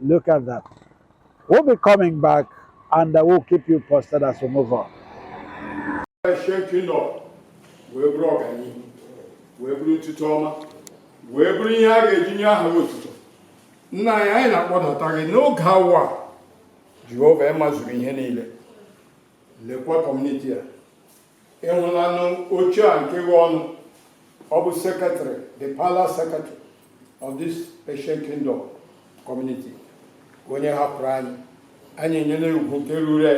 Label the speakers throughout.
Speaker 1: Look at that. We'll be coming back and I will keep you posted as we move on. Thank you. wee bụrụ ọganihu wee bụrụ ntụtụ ọma wee bụrụ ihe a ga-eji nye aha otuto nna anyị anyị na-akpọdata gị n'oge awa jehova ị mazuru ihe niile lekwa kọmuniti a ị hụlanụ oche a nke ghe ọnụ ọ bụ secretary the palace secretary of this Ancient Kingdom community onye hapụrụ anyị anyị enyela ugwu nke ruru ya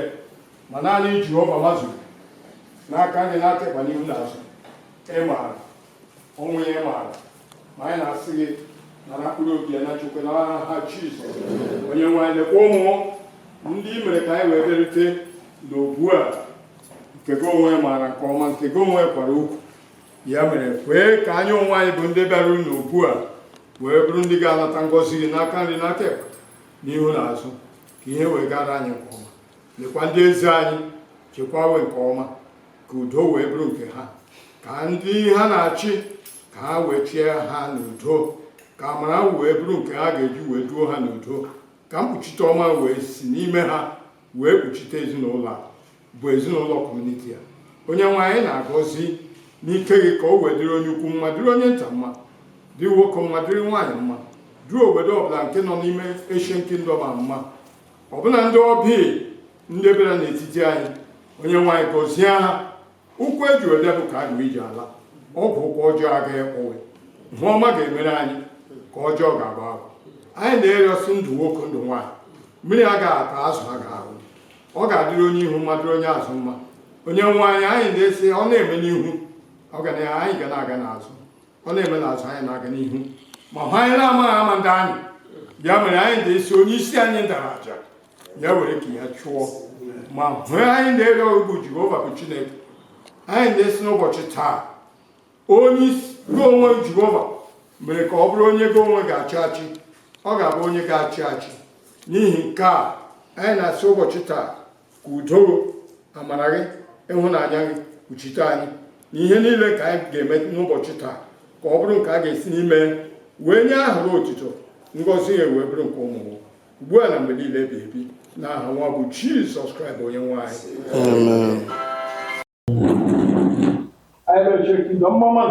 Speaker 1: ma naanị Jehova mazuru n'aka nri n'aka ịkpa n'ihu n'azụ ị maara ọnwụ ihe maara ma anyị na-asị gị nara mkpụrụ obi ya nna chukwu na aha jizọs onye nwe anyị lekwa ụmụ ndị i mere ka anyị wee bịarute na obu a nke gị onwe maara nke ọma nke gị onwe kwara okwu ya mere kwee ka anyị onwe anyị bụ ndị bịaruru na obu a wee bụrụ ndị ga-anata ngọzi gị n'aka nri n'aka ekpe n'ihu na azụ ka ihe wee gara anyị nke ọma nyekwa ndị eze anyị chekwawe nke ọma ka udo wee bụrụ nke ha ka ndị ha na-achị ka ha wee chie ha n'udo ka amara wee bụrụ nke ha ga-eji wee duo ha n'udo ka mkpuchite ọma wee si n'ime ha wee kpuchite ezinụlọ bụ ezinụlọ kọmuniti a onye nwe anyị na-agọzi n'ike gị ka o wee dịrị onye ukwu mma dịrị onye nta mma dịrị nwoke mma dịrị nwaanyị mma dịrị obodo ọbụla nke nọ n'ime Ancient Kingdom a mma ọbụna ndị ọbịa ndị bịara n'etiti anyị onye nwe anyị gọzie ha ụkwụ eji wee bịa ka a ga-eji ala ọ bụ ụkwụ ọjọọ agaghị akpọ ha ihe ọma ga-emere anyị ka ọjọọ ga-agba agwa anyị na-arịọ sị ndụ nwoke ndụ nwaanyị mmiri agaghị ata azụ agaghị anwụ ọ ga-adịrị onye ihu mma dịrị onye azụ mma onye nwe anyị anyị na-asị ọ na-eme n'ihu ọ ga na anyị ga na-aga n'azụ ọ na-eme na azụ anyị na-aga n'ihu ma hụ anyị na-amaghị ama ndị anyị ya mere anyị na-asị onye sị anyị dara aja ya were nke ya chụọ ma hụ anyị na-ere ọgụ jehova bụ chineke anyị na-asị n'ụbọchị taa onye gị onwe jehova mere ka ọ bụrụ onye gị onwe ga-achị achị ọ ga-abụ onye ga-achị achị n'ihi nke a anyị na-asị ụbọchị taa ka udo amara gị ịhụnanya gị kpuchite anyị na ihe niile nke anyị ga-eme n'ụbọchị taa ka ọ bụrụ nke a ga-esi n'ime wee nye aha gị otito ngọzi ya wee bụrụ nke ụmụ ugbu a na mgbe niile ebi ebi na aha nwa bụ jizọs kraịst onye nwe anyị Ahiaba Ancient Kingdom mma mma.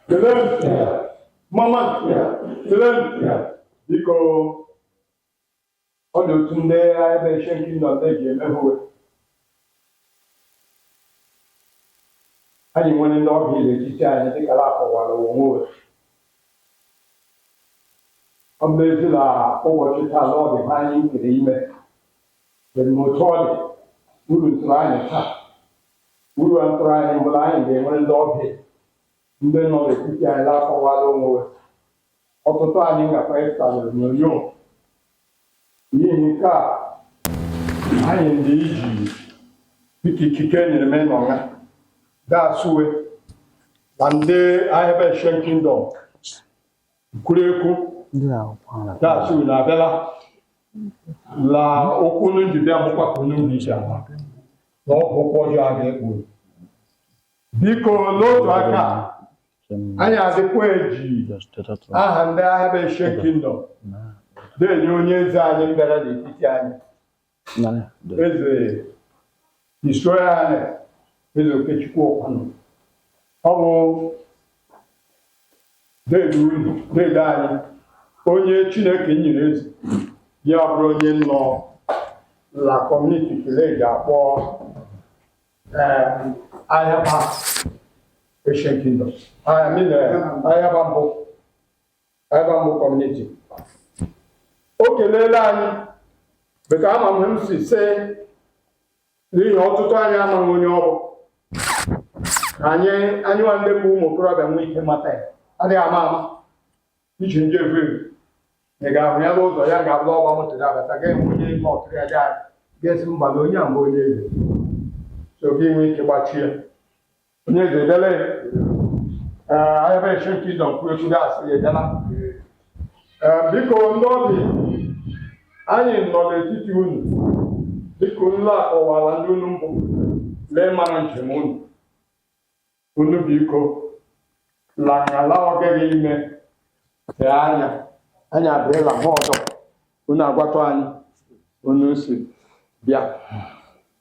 Speaker 1: Kelee nụ. Mma mma. Kelee nụ. Dịka ọ dị otu ndị Ahiaba Ancient Kingdom eji eme hwe anyị nwere ndị ọbịa n'etiti anyị dịka na-akọwara onwe ọ bụ ezi na ụbọchị taa na ọdịbe anyị kere ime Dị ma otu ọ dị, uru ntụrụ anyị taa, uru a ntụrụ anyị mbụ la anyị ga-enwere ndị ọbịa ndị nọ n'etiti anyị na-akọwara onwe we. Ọtụtụ anyị ngakwa ịpụta n'onyonyo. N'ihi nke a, anyị ndị iji dịka ikike enyere m n'ọnya ga-asụwe na ndị Ahiaba Ancient Kingdom Nkwurekwu ga-asị unu abịala la ụkwụ unu ji bịa bụkwa ka unu ji ama na ọ bụ ụkwụ ọjọọ a ga-ekpu unu. biko n'otu aka a, anyị adịkwa eji aha ndị Ahiaba Ancient Kingdom na-enye onye eze anyị mbịara n'etiti anyị eze his royal highness eze okechukwu ọkwanụ ọ bụ deede unu deede anyị onye chineke nyere eze ya bụrụ onye nọ la kọmuniti kele eji akpọ ahiaba ancient kingdom ahiaba mbụ ebe a bụ kọmuniti o keleela anyị beta ama m m si se n'ihi ọtụtụ anyị amaghị onye ọ bụ anyị anyị nwa ndị bụ ụmụ okorobịa nwee ike mata ya adịghị ama ama iji ndị evu evu ị ga-ahụ ya n'ụzọ ya ga-abụ ọgba moto ya abata ga-enwe onye ime ọkụrụ ya ga ga-esi mba na onye a mgbe onye eze so gị nwee ike gbachie Onye eze edele ee ebe nche nke ịdọ mkpụrụ ekwu gasị ya edela ee biko ndị ọbịa anyị nọ n'etiti unu dịka unu akọwara ndị unu mbụ la mara njem unu unu biko lakala ọgịghị ime tee anya anyị abịala ha ọdọ unu agwatụ anyị unu si bịa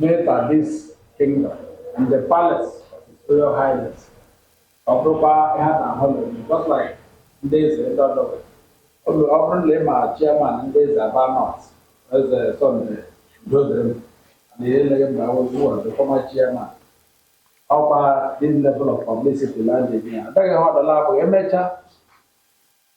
Speaker 1: Enter this kingdom and the palace of his royal highness. Ọ bụrụkwa ihe a na-ahụ n'ụlọ m, just like ndị eze ndị ọdọ nwere. Ọ bụ- ọ bụrụ na ị ma chairman ndị eze Aba North, eze Sunday Udodịrị m, na ihe eleghị mgbe I was one, the former chairman. Ọkwa this level of publicity land again. Adịghị ha ọdọla abụghị emechaa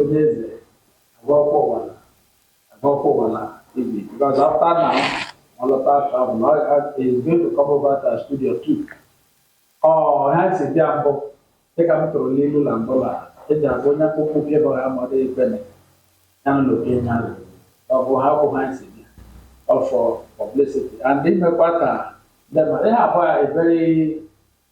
Speaker 1: Onye eze agwakwa ụwa na agwakwa ụwa na ibi because after now ọ lọta travel na he is going to come over to our studio too. Ọ ha si bịa mbụ dịka m tụrụ n'ilu na mbụ na eji agwa onye akpụkpọ ụkwụ ebe ọha mmadụ ekwene ya na oke nya ọ bụ ha bụ ha si bịa ọ for publicity and imekwa ka ndị mmadụ ihe abụọ a very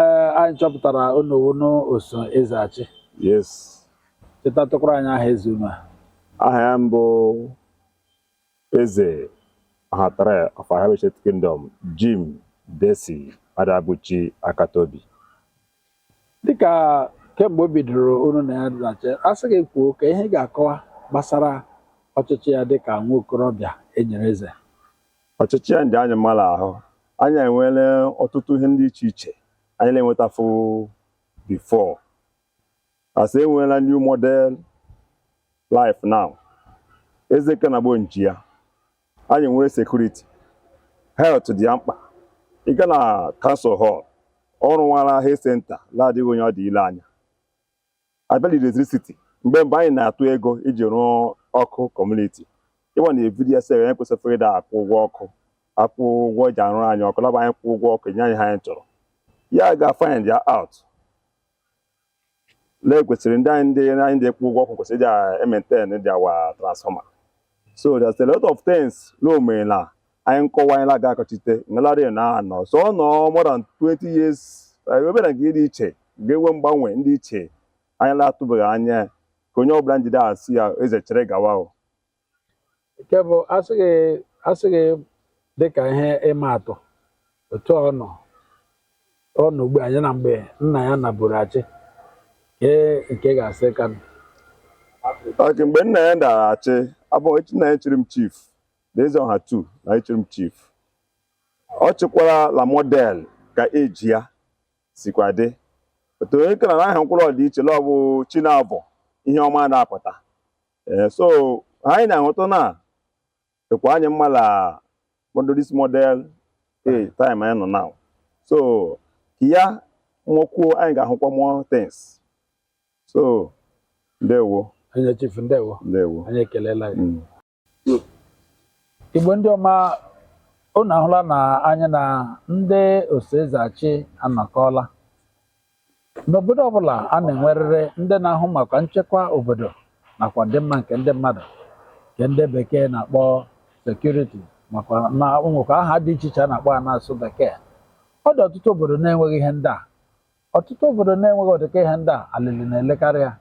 Speaker 1: ee anyị chọpụtara unu wụnụ oso eze achị yes chetatụkwara anyị aha eze unu a aha ya bụ eze ọhatara of Ahaba Ancient Kingdom Jim Desi Adabuchi Akatobi dịka kemgbe o bidoro unu na ya dị la-achị a sị gị kwuo ka ihe ị ga-akọwa gbasara ọchịchị ya dịka nwa okorobịa e nyere eze ọchịchị ya dị anyị mma l'ahụ anyị enwere ọtụtụ ihe ndị iche iche anyị na-enwetafụ before anyị enweela new model life now eze kanagbo nji ya anyị nwere security health dị ya mkpa ị gaa na council hall ọ rụkwara health center na-adịghị onye ọ dị ile anya a bịa la electricity mgbe mgbe anyị na-atụ ego iji rụọ ọkụ community ịwa na ebidi ya sị anyị kwesịfụrụ ịda akwụ ụgwọ ọkụ akwụ ụgwọ e ji arụrụ anyị ọkụ la ọ bụ anyị kwụ ụgwọ ọkụ nye anyị ha anyị chọrọ ya ga find ya out na e kwesịrị ndị anyị ndị anyị ndị kwụ ụgwọ ọkụ kwesịrị ịja emaintain dị our transformer so there's a lot of things na o merela anyị nkọwa anyị na-aga akọchite ngalari na-anọ so ọ nọọ more than 20 years ebere nke dị iche ga-enwe mgbanwe ndị iche anyị na-atụbeghị anya ka onye ọbụla njide a sị ya eze chịrị gawa o nke bụ a sị gị a sị gị dịka ihe ịma atụ otu ọ nọ ọ nọ ugbu a ya na mgbe nna ya nọburu achị ee nke ị ga-asị ka mma okay mgbe nna ya da achị ọ bụ nna ya chiri m chief na eze ọha two nna ya chiri m chief ọ chịkwara la model ka e ji ya sikwa dị otu onye kara na aha mkpụrụ ọdịiche la ọ bụ chi na-abọ ihe ọma na-apụta ee so anyị na-ahụta na dịkwa anyị mma la ụdị this model eh time anyị nọ now so ka ya nọkwuo anyị ga-ahụkwa more things so ndewo onye chief ndewo ndewo anyị ekeleela gị Mm. Igbo ndị ọma unu ahụla na anyị na ndị oso eze achị anọkọọla N'obodo ọbụla a na-enwerịrị ndị na-ahụ maka nchekwa obodo nakwa ọdịmma nke ndị mmadụ nke ndị bekee na-akpọ security makwa na nwekwa aha dị iche iche a na-akpọ ya n'asụsụ bekee ọ dị ọtụtụ obodo na-enweghị ihe ndị a ọtụtụ obodo na-enweghị ọdịka ihe ndị a alịlị na-elekarị ya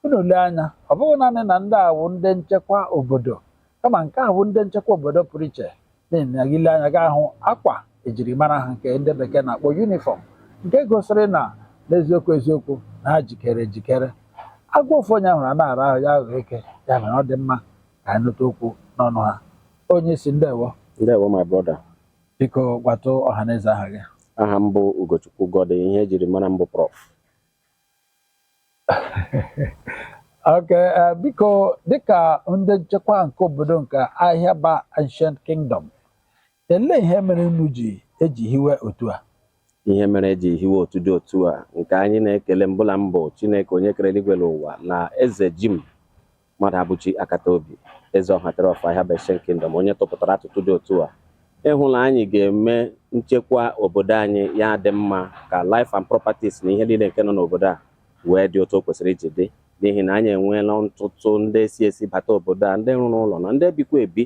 Speaker 1: Unu lee anya, ọ bụghị naanị na ndị a bụ ndị nchekwa obodo, kama nke a bụ ndị nchekwa obodo pụrụ iche n'ihi na gị lee anya gị ahụ akwa ejirimara ha nke ndị bekee na-akpọ uniform nke gosiri na n'eziokwu eziokwu na ha jikere ejikere. Agwọ ofu onye hụrụ a na-ara ahụ ya aghọ eke, ya mere ọ dị mma ka anyị nụta okwu n'ọnụ ha. Onye isi ndewo, Ndewo my brother. biko gwatụ ọhaneze aha gị. Aha m bụ Ugochukwu Gode, ihe ejiri mara m bụ Prof. Okay, eh, biko dịka ndị nchekwa nke obodo nke Ahịaba Ancient Kingdom, elee ihe mere unu ji eji hiwe otu a? ihe mere eji hiwe otu dị otu a nke anyị na-ekele mbụ la mbụ Chineke onye kere eluigwe na ụwa na eze Jim Mmadụabụchi Akataobi eze Ọha three of Ahịaba Ancient Kingdom onye tụpụtara atụtụ dị otu a ịhụ na anyị ga-eme nchekwa obodo anyị ya dị mma ka life and properties na ihe niile nke nọ n'obodo a wee dị otu o kwesịrị iji dị n'ihi na anyị enweela ntụtụ ndị si esi bata obodo a ndị rụrụ ụlọ na ndị bikwa ebi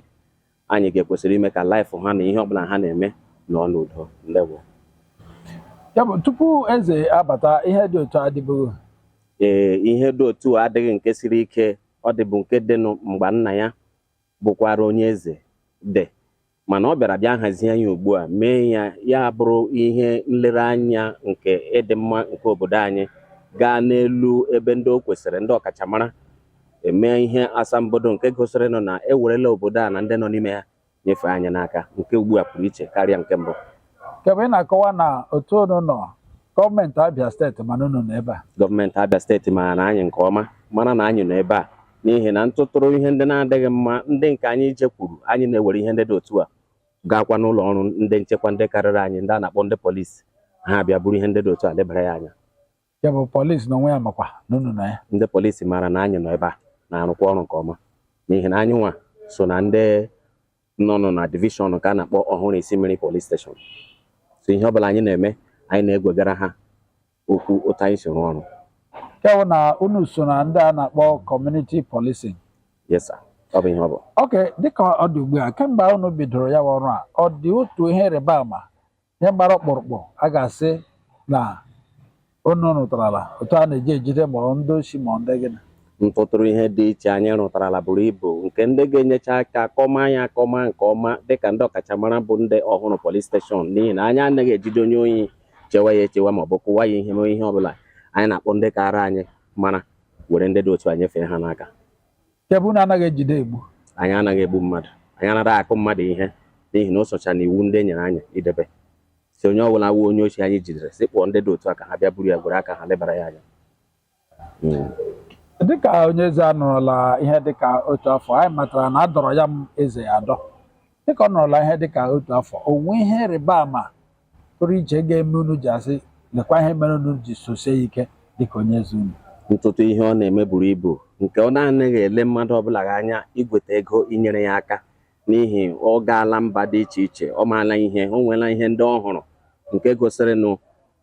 Speaker 1: anyị ga-ekwesịrị ime ka life ha na ihe ọbụla ha na-eme nọ n'udo ndewo ya bụ tupu eze abata ihe dị otu a adịbụghị ee ihe dị otu a adịghị nke siri ike ọ dịbụ nke dịnụ mgbe nna ya bụkwara onye eze dị mana ọ bịara bịa hazie ya ugbu a mee ya ya bụrụ ihe nlereanya nke ịdị mma nke obodo anyị gaa n'elu ebe ndị o kwesịrị ndị ọkachamara emee ihe asambodo nke gosirinụ na ewerela obodo a na ndị nọ n'ime ya nyefee anyị n'aka nke ugbu a pụrụ iche karịa nke mbụ nke bụ ị na-akọwa na otu unu nọ gọọmenti Abia steeti ma na unu nọ ebe a gọọmenti Abia steeti mara na anyị nke ọma mara na anyị nọ ebe a n'ihi na ntụtụrụ ihe ndị na-adịghị mma ndị nke anyị jekwuru anyị na-ewere ihe ndị dị otu a gaakwa n'ụlọ ọrụ ndị nchekwa ndị karịrị anyị ndị a na-akpọ ndị polisi ha bịa buru ihe ndị dị otu a lebara ya anya ya bụ polisi na onwe ya makwa na unu nọ ya ndị polisi maara na anyị nọ ebe a na-arụkwa ọrụ nke ọma n'ihi na anyị nwa so na ndị nọnụ na division nke a na-akpọ Ọhụrụ Isimmiri police station so ihe ọbụla anyị na-eme anyị na-egwegara ha okwu otu anyị si rụọ ọrụ nke bụ na unu so na ndị a na-akpọ community policing yes sir ọ bụ ihe ọ bụ okay dịka ọ dị ugbu a kemgbe unu bidoro ya bụ ọrụ a ọ dị otu ihe ịrịba ama ihe gbara ọkpụrụkpụ a ga-asị na unu rụtarala otu a na-eji ejide ma ọ ndị oshi ma ọ ndị gịnị ntụtụrụ ihe dị iche anyị rụtarala buru ibu nke ndị ga-enyecha aka kọma anyị akọma nke ọma dịka ndị ọkachamara bụ ndị Ọhụrụ police station n'ihi na anyị anaghị ejide onye ohi chewa ya echewa ma ọ bụ kụwa ya ihe mee ihe ọbụla anyị na-akpọ ndị kaara anyị mara were ndị dị otu a nyefee ha n'aka Nke bụ na anaghị ejide egbu. Anyị anaghị egbu mmadụ. Anyị anaghị akụ mmadụ ihe n'ihi na o socha n'iwu ndị e nyere anyị idebe. Sị onye ọbụla wụ onye oshi anyị jidere sị kpọọ ndị dị otu a ka ha bịa buru ya gwere aka ha lebara ya anya. Hmm. Dịka onye eze anọrọla ihe dịka otu afọ, anyị matara na a dọrọ ya m eze ya adọ. dịka ọ nọrọla ihe dịka otu afọ o nwee ihe ịrịba ama pụrụ iche ga-eme unu ji asị lekwa ihe mere unu ji sosie ya ike dịka onye eze unu ntụtụ ihe ọ na-eme buru ibu nke ọ na-anaghị ele mmadụ ọbụla gị anya igweta ego inyere ya aka n'ihi ọ gaala mba dị iche iche ọ maala ihe o nweela ihe ndị ọ hụrụ nke gosirinụ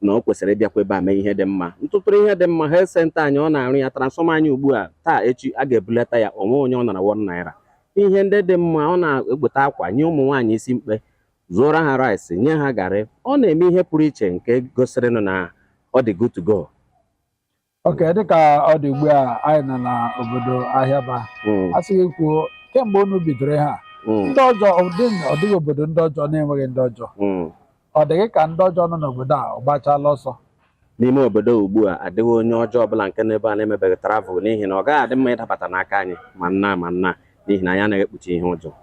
Speaker 1: na o kwesịrị ịbịakwa ebe a mee ihe dị mma ntụtụrụ ihe dị mma health center anyị ọ na-arụ ya transfọma anyị ugbu a taa echi a ga-ebulata ya o nwe onye ọ nara one naira ihe ndị dị mma ọ na-egbute akwa nye ụmụ nwaanyị isi mkpe zụọra ha rice nye ha garị ọ na-eme ihe pụrụ iche nke gosirinụ na ọ dị good to go ok dịka ọ dị ugbu a anyị nọ na obodo Ahịaba Mm, a sị gị kwuo kemgbe unu bidoro ha mm, ndị ọjọọ ọ dị- ọ dịghị obodo ndị ọjọọ na-enweghị ndị ọjọọ mm. Ọ dị gị ka ndị ọjọọ nọ n'obodo a ọ gbachaala ọsọ. N'ime obodo ugbu a, adịghị onye ọjọọ ọbụla nke nọ ebe a na-emebeghị travel n'ihi na ọ gaghị adị mma ịdabata n'aka anyị ma nna ma nna n'ihi na anyị anaghị ekpuchi ihe ọjọọ.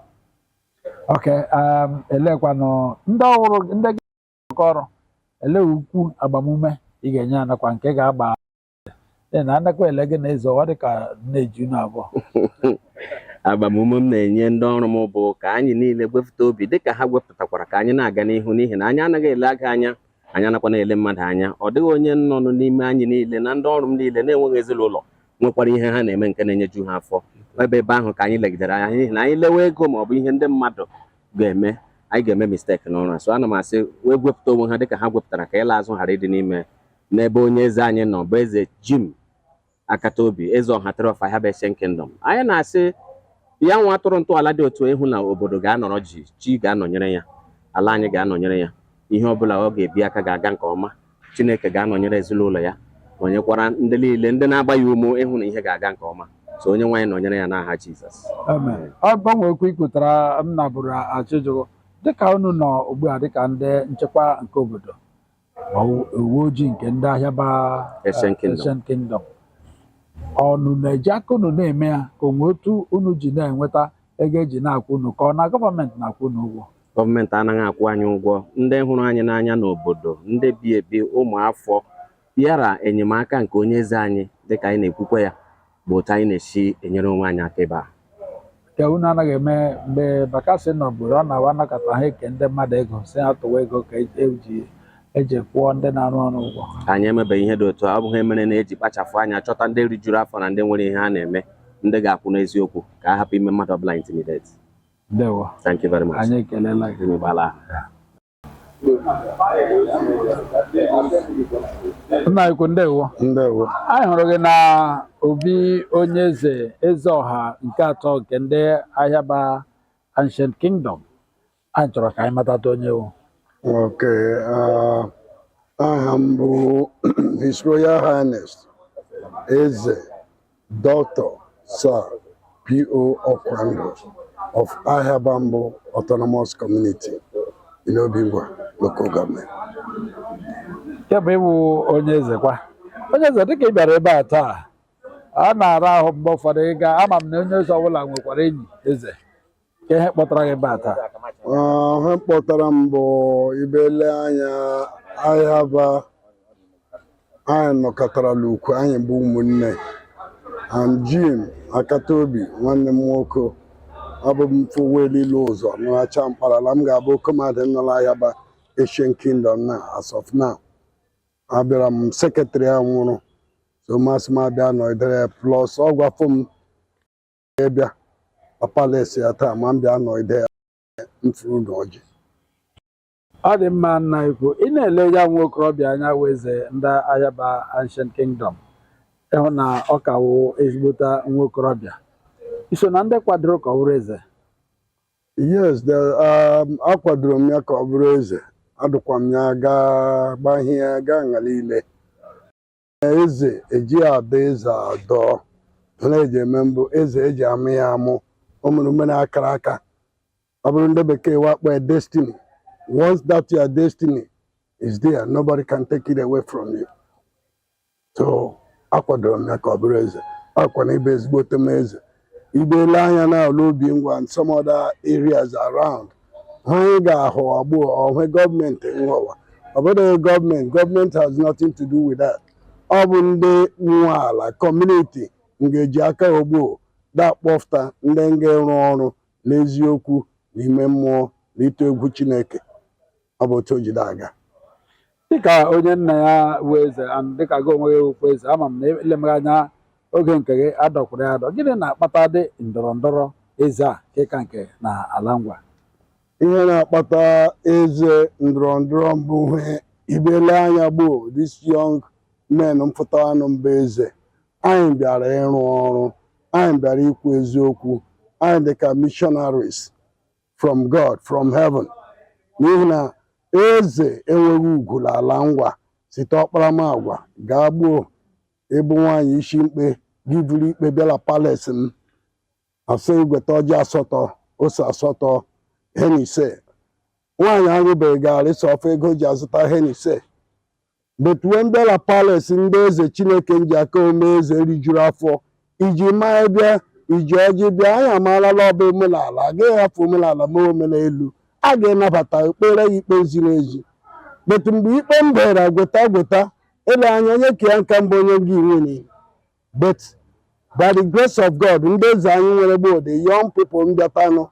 Speaker 1: Ok, um, eleekwanụ ndị ọrụ ndị gị ọrụ, olee okwu agbamume ị ga-enye ha nakwa nke ga-agba na anakwa ele gị na eze ọ dị ka na-eju na abụọ agbamume m na-enye ndị ọrụ m bụ ka anyị niile gwepụta obi dịka ha gwepụtakwara ka anyị na-aga n'ihu n'ihi na anyị anaghị ele ego anya anyị anakwa na-ele mmadụ anya ọ dịghị onye nọnụ n'ime anyị niile na ndị ọrụ m niile na-enweghị ezinụlọ nwekwara ihe ha na-eme nke na-enyeju ha afọ ebe ebe ahụ ka anyị legidere anya n'ihi na anyị lewe ego ma ọ bụ ihe ndị mmadụ ga-eme anyị ga-eme mistake n'ọrụ a so ana m asị wee gwepụta onwe ha dịka ha gwepụtara ka ịla azụ ghara ịdị n'ime n'ebe onye eze anyị nọ bụ eze Jim Akataobi Eze Ọha three of Ahịaba Ancient Kingdom anyị na-asị ya nwa tụrụ ntọala dị otu ịhụ na obodo ga-anọrọ jii chi ga-anọnyere ya ala anyị ga-anọnyere ya ihe ọ bụla ọ ga-ebi aka ga-aga nke ọma Chineke ga-anọnyere ezinụlọ ya nọnyekwara ndị niile ndị na-agba ya ume ịhụ na ihe ga-aga nke ọma so Onyenwe anyị nọnyere ya n'aha Jizọs Amen. ọ gbanwekwa ikwutara m na bụrụ achịjụgo dịka unu nọ ugbu a dịka ndị nchekwa nke obodo ma uwe ojii nke ndị Ahịaba Ancient eh, Kingdom. Ancient Kingdom unu na-eji aka unu na-eme ya ka o nwe otu unu ji na-enweta ego e ji na-akwụ unu ka ọ na gọọmenti na-akwụ unu ụgwọ gọọmenti anaghị akwụ anyị ụgwọ ndị hụrụ anyị n'anya n'obodo ndị bi ebi ụmụafọ bịara enyemaka nke onye eze anyị dịka anyị na-ekwukwe ya bụ otu anyị na-esi enyere onwe anyị aka ebe a nke unu anaghị eme mgbe bakasị nọ bụrụ ọ na-awa anakọta ha eke ndị mmadụ ego sị ha tụwa ego ka eji eji kwụọ ndị na-arụ ọrụ ụgwọ anyị emebeghị ihe dị otu a ọ bụ ihe mere na eji kpachapụ anya achọta ndị rijuru afọ na ndị nwere ihe ha na-eme ndị ga-akwụ n'eziokwu ka a hapụ ime mmadụ ọbụla intimidate ndewo thank you very much anyị ekelela gị anyị gbala aha. nna anyị ukwu ndewo ndewo anyị hụrụ gị na obi onye eze eze ọha nke atọ nke ndị Ahịaba ancient kingdom anyị chọrọ ka anyị matata onye ị wụ okay ah, aha m bụ his royal highness eze Doctor Sir P.O. Okwandu of Ahịaba Mbụ Autonomous Community in Obingwa Local Government. nke bụ ị wụ onye eze kwa onye eze dịka ị bịara ebe a taa a na-ara ahụ mgbe ụfọdụ ịga ama m na onye eze ọbụla nwekwara enyi eze Ka ihe kpọtara gị ebe a taa Ah, ihe kpọtara m bụ ibele anya Ahịaba anyị nọkọtara n'ukwu anyị bụ ụmụnne and Jim Akataobi nwanne m nwoke abụ m fowelilu ụzọ nọracha mkparala m ga-abụ kọmadị nọrọ Ahịaba ancient kingdom na as of now abịara m secretary a nwụrụ so masị m abịa nọdere plus ọ gwafụ m bịa palace ya taa ma m bịa nọ ide ya mfuru na ọjị ọ dị mma nna ukwu ị na-ele ya nwa okorobịa anya wụ eze ndị Ahịaba ancient kingdom ị hụ na ọ ka wụ ezigbota nwa okorobịa i so na ndị kwadoro ka ọ bụrụ eze yes the, um, akwadoro m ya ka ọ bụrụ eze adụkwa m ya gaa gbahie gaa nga liile eze eji adọ eze adọọ na eji eme mbụ eze eji amụ ya amụ o mere ume na akara aka ọ bụrụ ndị bekee wee kpọọ ya destiny once that your destiny is there nobody can take it away from you so akwadoro m ya ka ọ bụrụ eze akwa na ịbụ ezigbote m eze Ibele anya n'ala Obingwa and some other areas around ha anyị ga-ahọ agbụ ọhụụ gọọmenti nghọwa ọ bụghị gọọmenti gọọmenti has nothing to do with that ọ bụ ndị nwe ala kọmuniti nga-eji aka ogbo da akpọfụta ndị nga-arụ ọrụ n'eziokwu n'ime mmụọ na ịtụ egwu Chineke ọ bụ otu o ji de aga dịka onye nna ya bụ eze and dịka gị onwe gị wụkwa eze ama m na elemeghị anya oge nke gị a dọkwara ya adọ gịnị na-akpatadị ndọrọ ndọrọ eze a nke ka nke na ala Ngwa ihe na-akpata eze ndọrọ ndọrọ mbụ ihe ibele anya gboo these young men mpụtanụ mba eze anyị bịara ịrụ ọrụ anyị bịara ikwu eziokwu anyị dị ka missionaries from God from heaven n'ihi na eze enweghị ugwu n'ala Ngwa site ọkparamagwa gaa gboo ị bụ nwaanyị isi mkpe gị buru ikpe bịa la palace m a sị gweta ọjị asatọ ose asatọ Hennessy nwaanyị aṅụbeghị garị sọ ofe ego o ji azụta Hennessy But we mbịa la Palace ndị eze Chineke nji aka o mee eze rijuru afọ e ji maị bịa e ji ọjị bịa anyị amaala la ọ bụ omenala a gaghị hafụ omenala ma omenelu a ga-anabata ekpeere ya ikpe ziri ezi but mgbe ikpe mbere gweta gweta ele anya onye ka ya nka mbụ onye gị nwunye but by the grace of God ndị eze anyị nwere gboo the young people mbịatanụ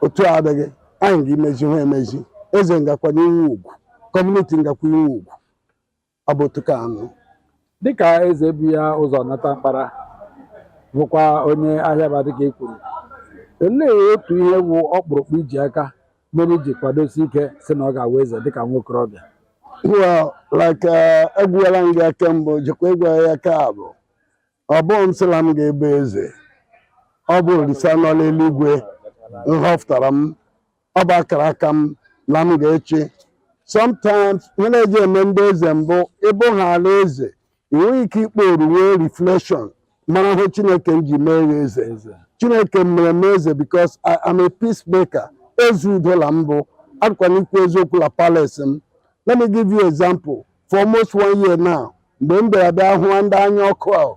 Speaker 1: otu a adịghị anyị ga imezi ha emezi eze ngakwanụ inwe ugwu community ngakwa inwe ugwu ọ bụ otu kwanụ dịka eze bu ya ụzọ nata mkpara bụkwa onye ahịa Aba dịka i kwuru olee otu ihe bụ ọkpụrụkpụ i ji aka mere i ji kwadosie ike sị na ọ ga-awụ eze dịka nwa okorobịa well like ekwuela m gị nke mbụ jikwa ekwu ya nke abụ Ọ bụghị m sị la m ga-ebe eze, ọ bụ Orisa nọ n'eluigwe nhọpụtara m, ọ bụ akara aka m na m ga-echi. Sometimes ihe na-eji eme ndị eze mbụ ị bụhaala eze, ị nweghị ike ikpooru nwee reflection mara ihe Chineke nji mee gị eze. Chineke mere m eze because I am a peacemaker. Eze udo la m bụ a dịkwanụ ikwu eziokwu la palace m. Let me give you example. for almost one year now mgbe m bịara bịa hụwa ndị anya ọkụ ahụ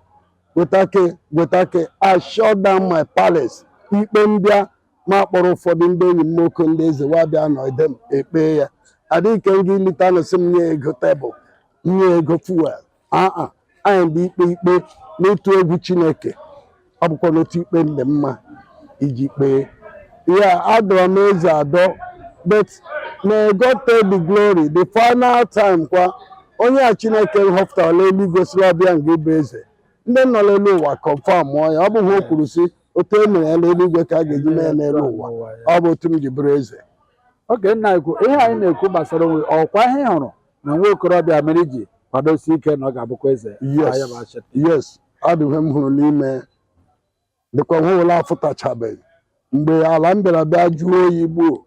Speaker 1: gwetake gwetake I shut down my palace ikpe mbịa m akpọrọ ụfọdụ ndị enyi m nwoke ndị eze wa abịa nọ ede m ekpee ya adịghị nke m gị lita nụ sị m nye ego table nye ego fuel aa anyị de ikpe ikpe n'ịtụ egwu Chineke ọ bụkwanụ otu ikpe ndị mma e ji kpee ya a dọrọ m eze adọ but may God take the glory the final time kwa onye a Chineke nhọpụtara n'eluigwe sị ọ bụ ya nga ịbụ eze ndị nọ n'elu ụwa confirmụọ ya ọ bụ ya o kwuru sị otu e mere ya n'eluigwe ka a ga-eji mee ya n'elu ụwa ọ bụ otu m ji bụrụ eze oge nna ekwu ihe anyị na-ekwu gbasara onwe ọkwa ihe ị hụrụ na nwa okorobịa mere iji kwadosi ike na ọ ga-abụkwa eze Yes. ya bụ achị yes a dị ihe m hụrụ n'ime dịkwa ihe wụla afụtachabeghị mgbe ala mbịara bịa jụọ oyi gbuo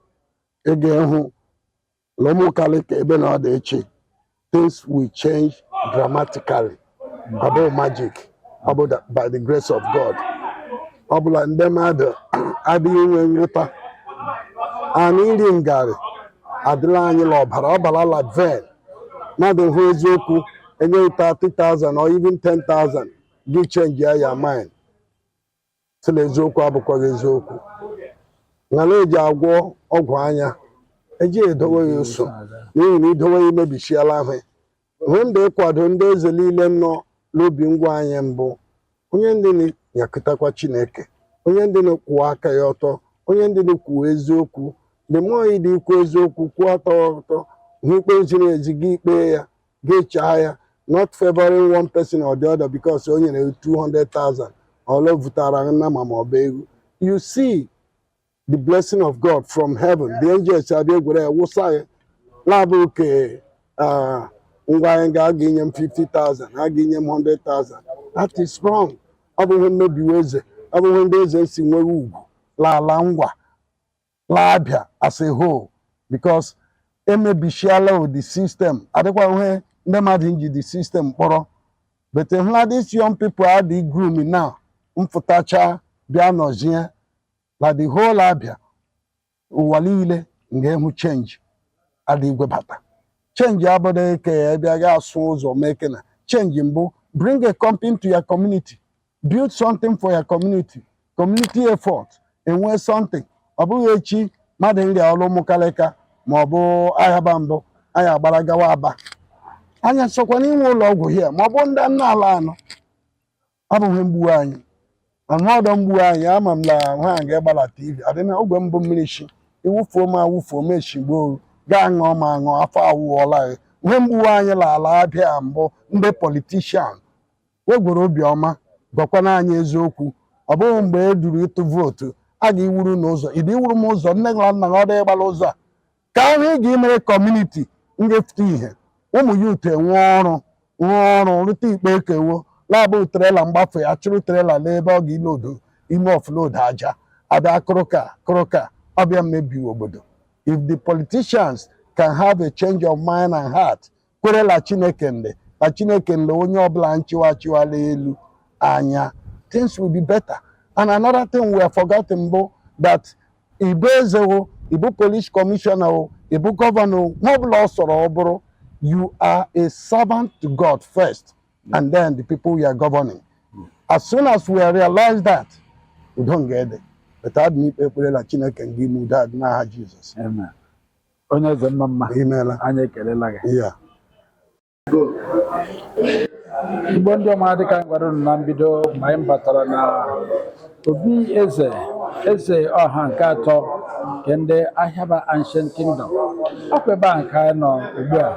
Speaker 1: ị ga-ehụ la ụmụkalịka ebe na ọ dị ịchị things will change dramatically abụghị magic ọ bụ da- by the grace of God ọ bụ la ndị mmadụ adịghị inwe nghọta anyị iri ngarị adịla anyị la ọbara ọ bara la vein mmadụ hụ eziokwu e nye gị 30,000 or even 10,000 gị change your your mind si na eziokwu abụkwaghị eziokwu nga la eji agwọ ọgwụ anya eji edowe ya oso n'ihi na idowe ya imebichiela ihe ihe m dị ịkwado ndị eze niile nọ n'Obingwa anyị mbụ onye ndị na-nyakụtakwa chineke onye ndị na-akwụọ aka ya ọtọ onye ndị na-ekwuo eziokwu dị mmụọ ịdị ikwu eziokwu kwụọ aka ọtọ hụ ikpe ziri ezi gị ekpee ya ga-echaa ya not favoring one person or the other because o nyere 200,000 or o vutara nnama ma ọ bụ ewu you see the blessing of God from heaven the angels abịa gwere ya wụsa gị la abụ ke ah, ngwa anyị ga a ga-inye m 50,000 ha ga-enye m 100,000 that is wrong ọ bụ ihe mmebiwe eze ọ bụ ihe ndị eze nsi enweghị ugwu la ala Ngwa la Abia as a whole because emebisiala the system adịkwa ihe ndị mmadụ nji the system kpọrọ but e hụla this young people a dị groom na mfụtacha bịa nọzie na the whole Abia ụwa niile ga-ehụ change a dị igwebata change abụghị ke e bịa ga asụ ụzọ mee ke na change mbụ bring a company into your community build something for your community community effort enwee something ọ bụghị echi mmadụ nrịa ọrịa ụmụkalịka ma ọ bụ ayaba mbụ anyị agbara gawa Aba anyị sokwa n'inwe ụlọ ọgwụ here ma ọ bụ ndị nna ala anọ abụghị mgbu anyị anụ ọdọ mgbu anyị ama m na ha ga-egbara tv adịna ogwe mbụ mmiri chi iwufuo m awufuo m echigbo oru gaa ṅụọ ma ṅụọ afọ awụọla gị ihe mgbu anyị la ala Abia mbụ ndị politician wee gwere obiọma gwakwana anyị eziokwu ọ bụghị mgbe e duru ịtụ vootu a ga-iwuru na ụzọ ịdị iwuru m ụzọ nne gị na nna gị ọ dịghị ịgba la ụzọ a ka ahụ ị ga-emere community nga-afụta ihe ụmụ youth nwee ọrụ rụọ ọrụ rụta ikpeghe ke wo la ọ bụ trailer mgbafe a chụrụ trailer n'ebe ọ ga-iload ime offload aja abịa kụrụka kụrụka ọ bịa mmebi obodo if the politicians can have a change of mind and heart kwere la chineke ndị na chineke ndị onye ọbụla nchịwa chịwala elu anya things will be better and another thing we are forgetting bụ that i bụ eze o i bụ police commissioner o i bụ gọvanọ o ma ọbụla ọ sọrọ ọ bụrụ you are a servant to god first and then the people you are governing as soon as we realize that udo nga ede beta adị n'ikpe ekpere la chineke nga ime udo adị n'aha jizọs Amen. onye eze mma mma imeela anyị ekelela gị ya igbo ndị ọma dịka anyị gwara unu na mbido ma anyị batara na obi eze eze ọha nke atọ nke ndị ahịaba ancient kingdom ọ kwa ebe a ka anyị nọ ugbu a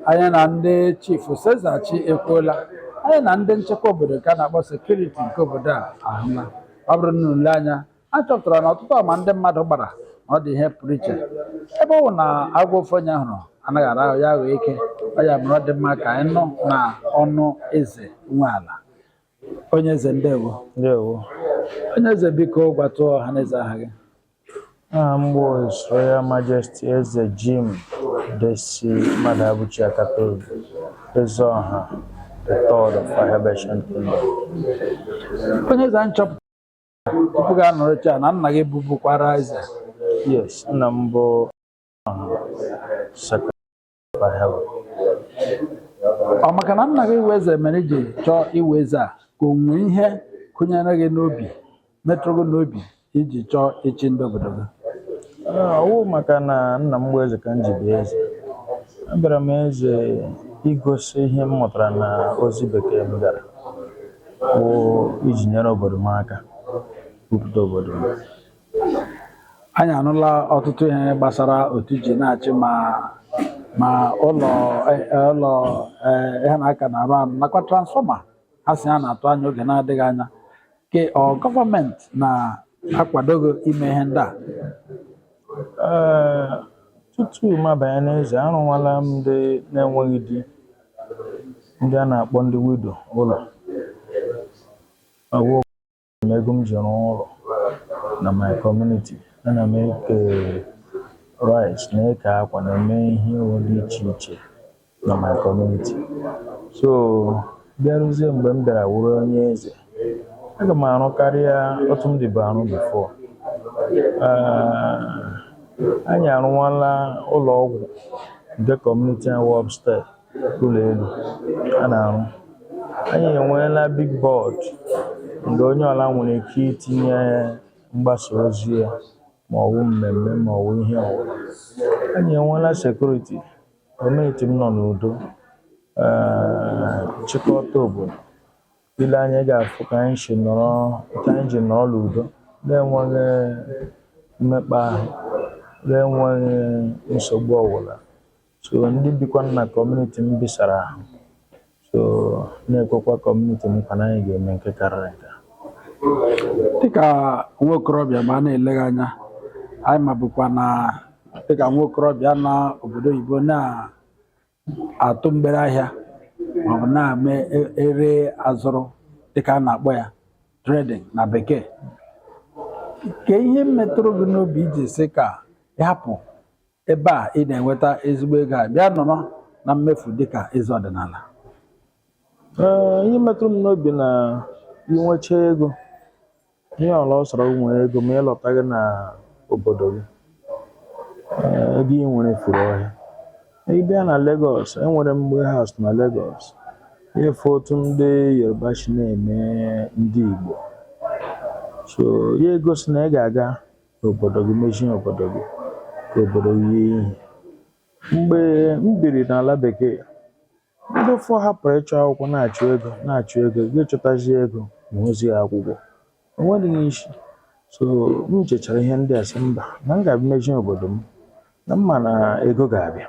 Speaker 1: anyị na ndị chiefs eze chi ekwuola anyị na ndị nchekwa obodo nke a na-akpọ sekuriti nke obodo a ahụla ọ bụrụ na unu lee anya a chọpụtara na ọtụtụ ama ndị mmadụ gbara na ọ dị ihe pụrụ iche ebe ọ bụ na agwọ ofu onye hụrụ anaghị ara ahụ ya aghọ eke ọ ya mere ọ dị mma ka anyị nụ na ọnụ eze nwe ala onye eze ndewo ndewo onye eze biko gwatụ ọha na eze aha gị aha m bụ His Royal Majesty Eze Jim Desi Mmadụabụchi Akatobi Eze Ọha the third of Ahịaba Ancient Kingdom onye eze anyị chọpụtara tupu gị anọchie na nna gị bụbukwara eze yes nna m bụ ọ maka na nna gị wụ eze mere i ji chọọ ịwụ eze a ka o nwee ihe kụnyere gị n'obi metụrụ gị n'obi i ji chọọ ịchị ndị obodo gị ọwụ maka na nna m bụ eze ka m ji bịa eze abịara m eze igosi ihe m mụtara na ozi bekee m gara bụ iji nyere obodo m aka bupụte obodo m anyị anụla ọtụtụ ihe gbasara otu i ji na-achị ma ma ụlọ eh, eh, ụlọ eh, ihe na-aka na-arụ arụ nakwa transfọma ha sị a na-atụ anya oge na-adịghị anya ke ọ gọọmenti na-akwado gị ime ihe ndị a Ee, tutu m abanye n'eze, arụwala m ndị na-enweghị di, ndị a na-akpọ ndị widow ụlọ. Awụ ego m ji rụọ ụlọ na my community. Ana m eke rice, na-eke akwa, na-eme ihe dị iche iche. na my community so bịaruzie mgbe m bịara wụrụ onye eze aga m arụ karịa otu m dịbu arụ bifo anyị arụwala ụlọ ọgwụ nke kọmuniti awụ upstairs ụlọ elu a na-arụ anyị enweela big board nga onye ọla nwere ike itinye mgbasa ozi ya ma ọ wụ mmemme ma ọ wụ ihe ọwụla anyị enweela sekuriti Kọmuniti m nọ n'udo ee, chịkọta obodo i lee anya ị ga-afụ ka anyị si nọrọ ka anyị ji nọrọ n'udo na-enweghị mmekpa ahụ na-enweghị nsogbu ọbụla so ndị bikwa na kọmuniti m bisara ahụ so na-ekwekwa kọmuniti m nkwa na anyị ga-eme nke karịrị nke a. dịka nwa okorobịa ma a na-eleghị anya anyị mabukwa na dịka nwa okorobịa na obodo oyibo na-atụ mgbere ahịa maọbụ na-eme e- ere azụrụ dịka a na-akpọ ya trading na bekee kee ihe metụrụ gị n'obi iji sị ka ị hapụ Ebe a ị na-enweta ezigbo ego a bịa nọrọ na mmefu dịka eze ọdịnala. Ee, ihe metụrụ m n'obi na i nwecha ego ihe ọla ọ sọrọ nwee ego ma ị lọtaghị na obodo gị ee, ego ị nwere furu ọhịa ị bịa na Lagos enwere m warehouse na Lagos ị fụ otu ndị Yoruba si na-eme ndị Igbo so ya egosi na ị ga-aga ka obodo gị mezie obodo gị ka obodo gị yie ihe mgbe m biri n'ala bekee ndị ụfọ hapụrụ ịchọ akwụkwọ na-achụ ego na-achụ ego gị chọtazi ego ma ozi ya akwụkwọ enwedịghị isi so m chechara ihe ndị a sị mba na m ga-abịa mezie obodo m na m ma na ego ga-abịa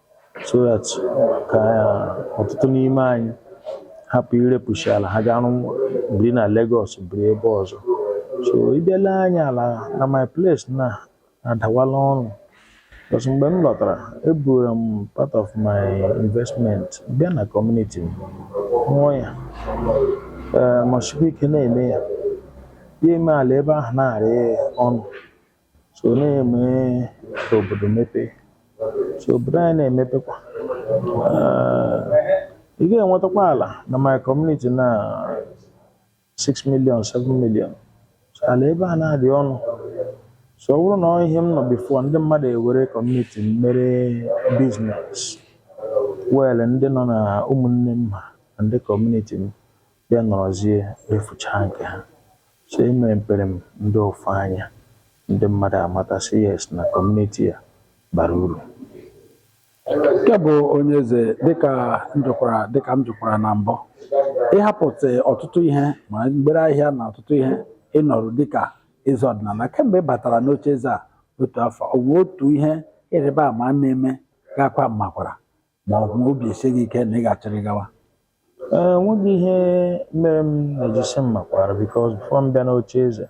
Speaker 1: so that ka ọtụtụ n'ime anyị hapụ irepụsị ala ha garụ biri na Lagos biri ebe ọzọ so ị bịa ala anyị ala na my place na adawala ọnụ because mgbe m lọtara eburu m part of my investment bịa na community m rụọ ya ee ma sikwa ike na-eme ya ya eme ala ebe ahụ na-arị ọnụ so na-eme ka obodo mepee so obodo anyị na-emepekwa Ah, ị ga-enwetakwa ala na my community na 6 million 7 million so ala ebe a na-adị ọnụ so ọ bụrụ na ọ ihe m nọ before ndị mmadụ ewere community m mere business well ndị nọ na ụmụnne m ha na ndị community m Ya nọrọzie refuchaa nke ha. So emepere m ndị ụfụ anya, ndị mmadụ amata sị yes na kọmuniti a bara uru. Nke bụ onye eze, dịka m jụkwara dịka m jụkwara na mbụ, ị hapụtị ọtụtụ ihe ma mgbere ahịa na ọtụtụ ihe ị nọrọ dịka eze ọdịnala kemgbe ị batara n'ocheeze a otu afọ, o nwee otu ihe ịrịba ama na-eme gị akwa mmakwara? ma ọ bụ obi esie gị ike na ị ga-achịrị gawa Ee, nweghị ihe mere m na-ejisi m makwara because before m bịa n'oche eze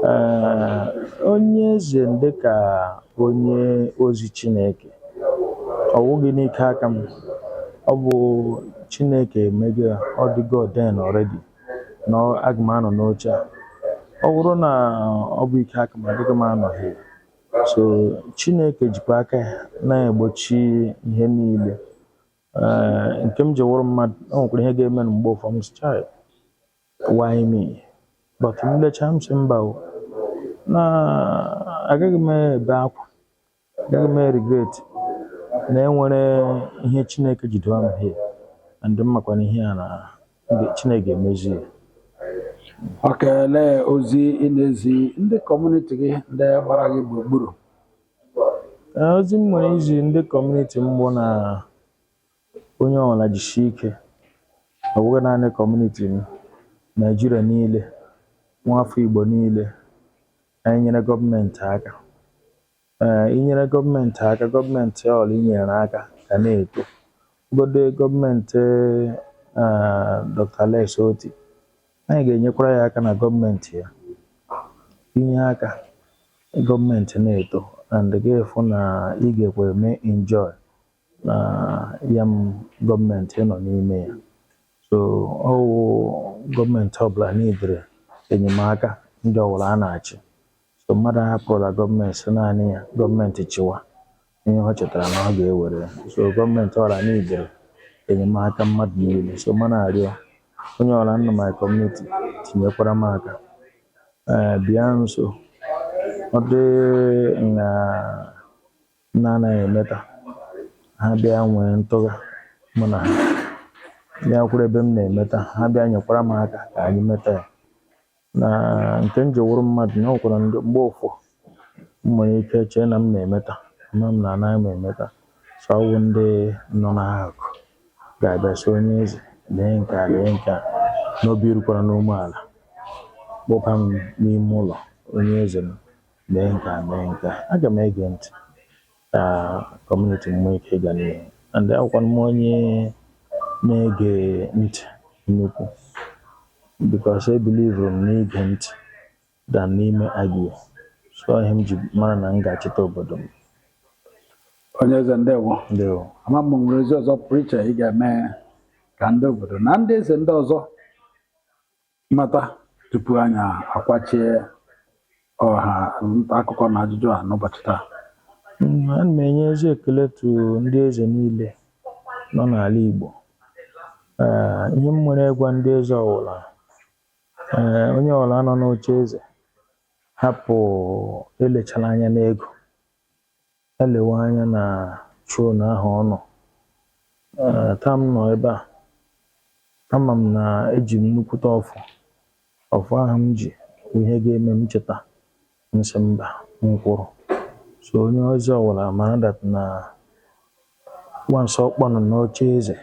Speaker 1: ee, onye eze m dị ka onye ozi chineke ọ wụghị n'ike aka m ọ bụ chineke emego ya ọ dịgo ordain already na ọ- aga m anọ n'oche a ọ bụrụ na ọ bụ ike aka m adịghị m anọ here so chineke jikwa aka ya na-egbochi ihe niile Ee, nke m ji wụrụ mmadụ o nwekwara ihe ga-eme mgbe ụfọdụ m sị, "Chai, why me but m lecha m sị mba o na agaghị m ebe akwa agaghị m regret na enwere ihe chineke ji dowe m here and m makwa na ihe a na Chineke ga-emezu ya okay elee ozi ị na-ezi ndị kọmuniti gị ndị gbara gị gburugburu Ee, ozi m nwere izi ndị kọmuniti m bụ na onye ọbụla jisie ike ọ bụghị naanị kọmuniti m Naịjirịa niile nwaafọ Igbo niile anyị nyere gọọmenti aka ee inyere gọọmenti aka gọọmenti ọwụla i nyere aka ga na-eto ọ bụgodu gọọmenti Dr. Alex Otti anyị ga-enyekwara ya aka na gọọmenti ya i nye aka gọọmenti na-eto and ga-afụ na ị gakwa eme enjoy na ya m gọọmenti ị nọ n'ime ya so ọ wụ gọọmenti ọbụla needịrị enyemaka ndị ọwụla a na-achị So mmadụ ahapụla gọọmenti sị naanị ya gọọmenti chịwa ihe ọ chịtara na ọ ga-ewere ya. So gọọmenti ọwụla needịrị enyemaka mmadụ niile. So mụ na-arịọ onye ọwụla nọ my community tinyekwara m aka. Ee, bịa nso. Ọ dị na m anaghị emeta ha bịa nwee ntụgha mụ na ha bịa kwụrụ ebe m na-emeta ha bịa nyekwara m aka ka anyị meta ya. na nke m ji wụrụ mmadụ na o nwekwara mgbe ụfọ m nwere ike chee na m na-emeta mana anaghị m emeta so ọ wụ ndị nọ n'akụkụ ga-abịa sị onye eze lee nke a lee nke a n'obi rukwara n'umeala kpọba m n'ime ụlọ onye eze m lee nke a lee nke a aga m ege ntị ka kọmuniti m nwee ike ịga n'ihu and awụkwanụ m onye na-ege ntị nnukwu because ebilivuru m n'ige ntị than n'ime argue so ihe m ji mara na m ga-achịta obodo m onye eze ndewo ndewo ama m o nwere ozi ọzọ pụrụ iche ị ga-eme ka ndị obodo na ndị eze ndị ọzọ mmata tupu anyị akwachie ọha nta akụkọ na ajụjụ a n'ụbọchị taa Mm, ana m enye ezi ekele to ndị eze niile nọ n'ala Igbo Ee, ihe m nwere ịgwa ndị eze ọwụla ee, onye ọwụla nọ n'oche eze hapụ elechala anya n'ego Elewe anya na throne ahụ ọ nọ. Ee, taa m nọ ebe a, ama m na eji m nnukwute ọfọ. Ọfọ ahụ m ji bụ ihe ga-eme m cheta m sị mba m kwụrụ. So onye eze ọwụla mara that na Once ọ nọ n'oche eze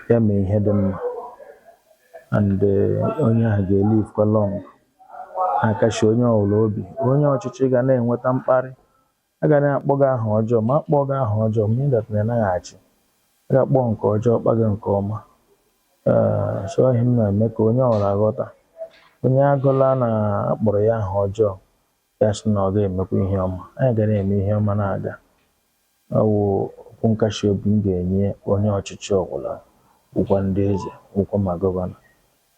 Speaker 1: ya mee ihe dị mma and eh, onye ahụ ga-elive kwa long na-akasi onye ọbụla obi onye ọchịchị ga na-enweta mkparị a ga na-akpọ gị aha ọjọọ ma akpọghị gị aha ọjọọ mara that na ị naghị achị a ga-akpọ nke ọjọọ kpọ gị nke ọma Eh, so ihe m na-eme ka onye ọbụla ghọta onye agụla na akpọrọ ya aha ọjọọ ya sị na ọ ga-emekwa ihe ọma anyị ga na-eme ihe ọma na-aga ọ wụ okwu nkasi obi m ga-enye onye ọchịchị ọbụla ụkwa ndị eze ụkwa ma gọvanọ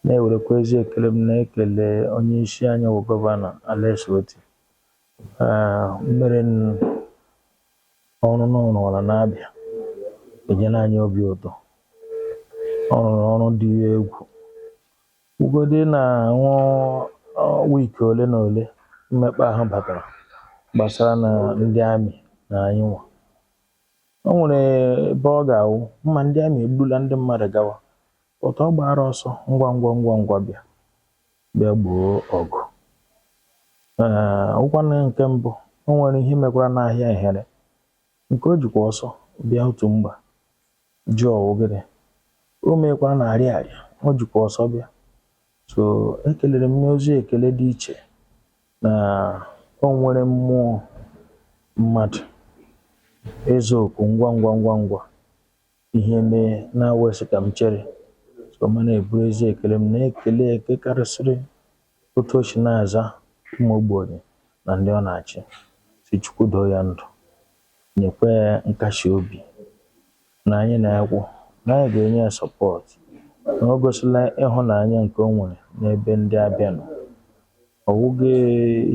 Speaker 1: na-ewerekwa ezi ekele m na-ekele onye isi anyị bụ gọvanọ Alex Otti Ah, imerime ọrụ ndị ọ rụala na Abia enyela anyị obi ụtọ ọ rụrụ ọrụ dị egwu Kwugodị na nwa week ole na ole mmekpa ahụ batara gbasara na ndị amị na anyị nwa. O nwere ebe ọ ga-awụ ma ndị amị eburula ndị mmadụ gawa otu ọ gbara ọsọ ngwa ngwa ngwa ngwa bịa bịa gboo ọgụ. Ọ wụkwanụ nke mbụ o nwere ihe mekwara n'ahịa Ehere nke o jikwa ọsọ bịa otu mgba ji ọwụgịrị o meekwa na Ariaria o jikwa ọsọ bịa so ekelere m n'ezi ekele dị iche na o nwere mmụọ mmadụ ịza oku ngwa ngwa ngwa ngwa ihe mee na-awesị ka m chere so m na-eburu ezi ekele m na-ekele eke karịsịrị Otu o si na-aza ụmụ ogbenye na ndị ọ na-achị, sị Chukwu doo ya ndụ, nyekwa ya nkasi obi na anyị na ya kwụ, na anyị ga-enye ya support, na o gosila ịhụnanya nke o nwere n'ebe ndị Abia nọ. Ọ wụghị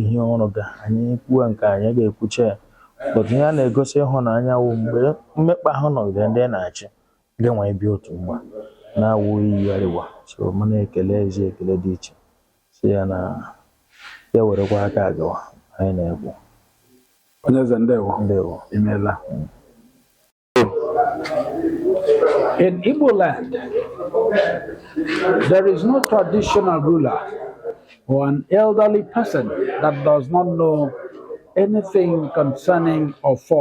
Speaker 1: ihe ọ rụga, anyị kwuwe nke a, anyị ga-ekwucha ya, but ihe a na-egosi ịhụnanya wụ mgbe mmekpa ahụ nọgidere ndị ị na-achị, Gị nwa ịbịa otu mgba na-awụ iyi arịwa soro m na-ekele eze ekele dị iche sị ya na ya werekwa aka agawa anyị na-ekwu onye eze ndewo ndewo imeela In Igbo land, there is no traditional ruler or an elderly person that does not know anything concerning Ọfọ